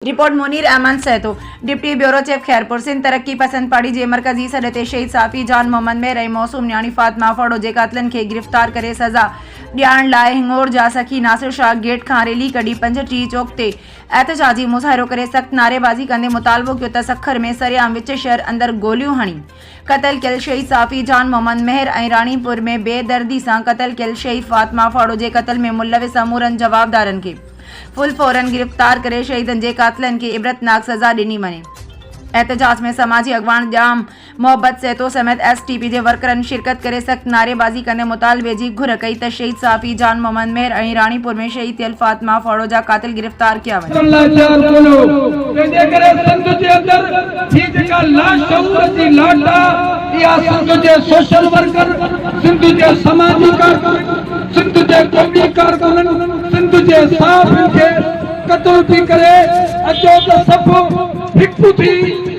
Report, Munir Ahmed Sahito, deputy bureau chief Khairpur, Sindh Taraqi Pasand party جي مرڪزي سڏ تي شهيد صحافي جان محمد مير ۽ معصوم نياڻي فاطمه ڦڙو جي قاتلن کي گرفتار ڪري سزا ڏيارڻ لاء هنڱور جا سخي ناصر شاهه گيٽ کان ريلي ڪڍي پنج ٽي چوڪ تي احتجاجي مظاهرو ڪري سخت نعريبازي ڪندي مطالبو ڪيو ته سکر ۾ سرعام وچ شهر اندر گوليون هڻي قتل ڪيل شهيد صحافي جان محمد مهر ۽ راڻيپور ۾ بي دردي سان قتل ڪيل شهيد فاطمه ڦاڙو جي قتل ۾ ملوث سمورن جوابدارن کي فل فورن گرفتار ڪري شهيدن جي قاتلن کي عبرتناڪ سزا ڏني وڃي. احتجاج ۾ سماجي اڳواڻ ڄام محبت سهتو سميت ايس ٽي پي جي ورڪرن شرڪت ڪري سخت نعريبازي ڪندي مطالبي جي گهر ڪئي ته شهيد صحافي جان محمد مهر ۽ راڻيپور ۾ شهيد ٿيل فاطمه ڦاڙو جا قاتل گرفتار تار ڪيا وڃن. ڪرڻ لاء تيار ڪونه هو، تنهن جي ڪري سنڌ جي اندر جي جيڪا لاشعور جي لاٽ آ، اها سنڌ جي سوشل ورڪر، سنڌ جي سماجي ڪارڪنن، سنڌ جي قومي ڪارڪنن، سنڌ جي صحافين کي قتل ٿي ڪري اچو ته سڀ هڪ ٿي،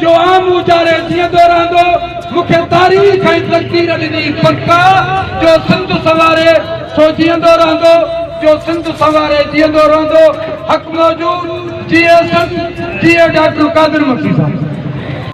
جو آء مون جاري جيئندو رهندو، مون کي تاريخ ۽ تقدير ڏني پڪا جو سنڌ سنواري سو جيئندو رهندو جو سنڌ سنواري جيئندو رهندو حق موجود جيئي سنڌ جيئي ڊاڪٽر قادر مکي صاحب.